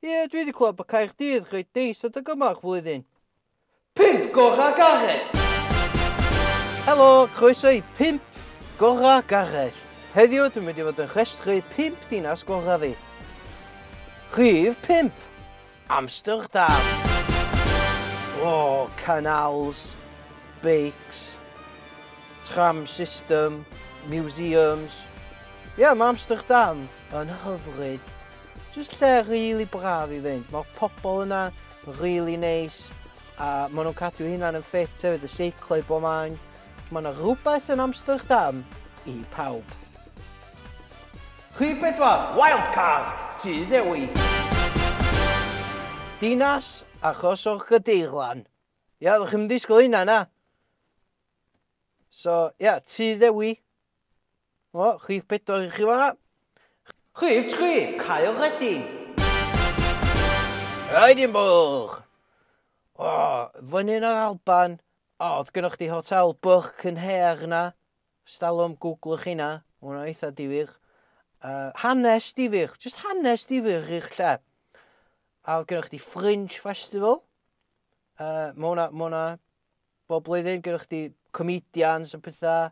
Ie, dwi wedi clywed bod Caerdydd reit neis adeg yma o'r flwyddyn. Pump Gorau Gareth! Helo, croeso i Pump Gorau Gareth. Heddiw dwi'n mynd i fod yn rhestru pump dinas gorau fi. Rhif 5, Amsterdam. O, oh, canals, beics, tram system, museums. Ie, yeah, mae Amsterdam yn hyfryd. Jyst lle rili braf i fynd, mae'r pobl yna rili neis a maen nhw'n cadw eu hunain yn ffit hefyd, y seiclo i bob man. Mae yna rhywbeth yn Amsterdam i pawb. Rhif bedwar, Wildcard, Tŷ Ddewi. Dinas achos o'r Gadeirlan. Ia, oeddech chi'm yn disgwyl hynna, na? So, ia, Tŷ Ddewi. O, rhif pedwar i chi fanna. Rhif tri, Kyle Redding. Edinburgh! O, fyny yn yr Alban. O, oedd gynnwch chi hotel Burke yn her na. Stalwm, googlwch hynna. Mae hwnna eitha difyr. Uh, hanes difyr, just hanes difyr i'r lle. A oedd gynnwch chi Fringe Festival. Uh, mae hwnna, mae hwnna bob blwyddyn gyda chdi comedians a pethau,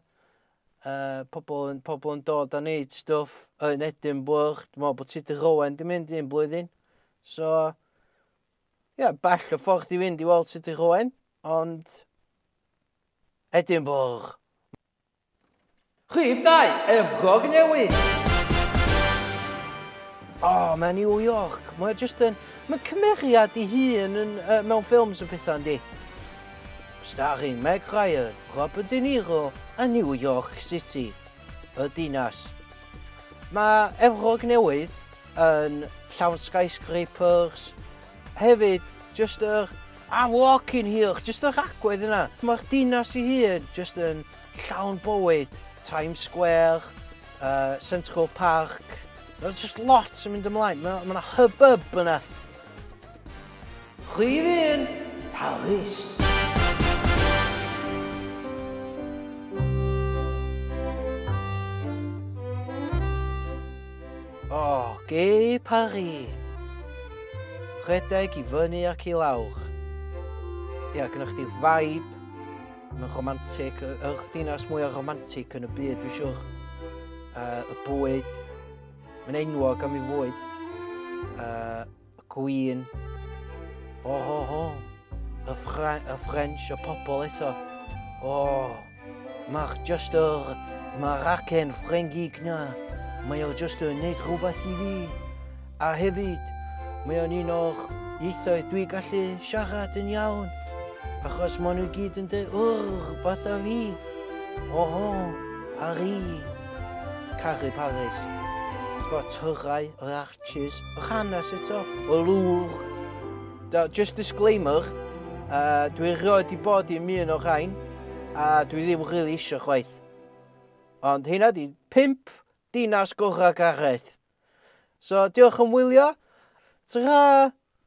uh, pobl, yn, pobl yn dod a wneud stwff yn Edinburgh. Dwi'n meddwl bod Tudur Rowen di mynd un blwyddyn. So, ie, yeah, bell o ffordd i fynd i weld Tudur Rowen, ond Edinburgh. Rhif dau, Efrog Newydd! O, mae New York, mae jyst yn... Mae cymeriad i hun yn, uh, mewn ffilms yn pethau yndi. Starring Meg Ryan, Robert De Niro a New York City, y dinas. Mae Efrog Newydd yn llawn skyscrapers, hefyd jyst yr A fuckin hell, jyst yr agwedd yna. Mae'r dinas ei hun jyst yn llawn bywyd, Times Square, uh, Central Park, Mae jyst lot yn mynd ymlaen, mae yna hubbub yna. Rhydd un, Paris. O, Gay Paris! Rhedeg i fyny ac i lawr. Ia, gynnwch chdi vibe, mae'n romantic, y, y dinas mwyaf romantic yn y byd, dwi'n siwr. Uh, y bwyd, mae'n enwog am ei fwyd. Uh, y Queen. O, oh, o, oh, o, oh. y, Fra y French, y pobl eto. O, oh, mae'r just yr, mae'r acen Ffrengig na. Mae o just yn neud rhywbeth i fi. A hefyd, mae o'n un o'r ieithoedd dwi gallu siarad yn iawn. Achos maen nhw gyd yn dweud, wrr, fath a fi. O, oh, o, oh, Paris. Caru Paris. Twa, tyrau, yr Cheers. O'ch hanes eto? O lwch. Da, just disclaimer, uh, dwi rioed i bod i'n un o rhain, a dwi ddim rili really eisiau chwaith. Ond hynna di pimp dinas gorau Gareth. So, diolch yn wylio. Ta-ra!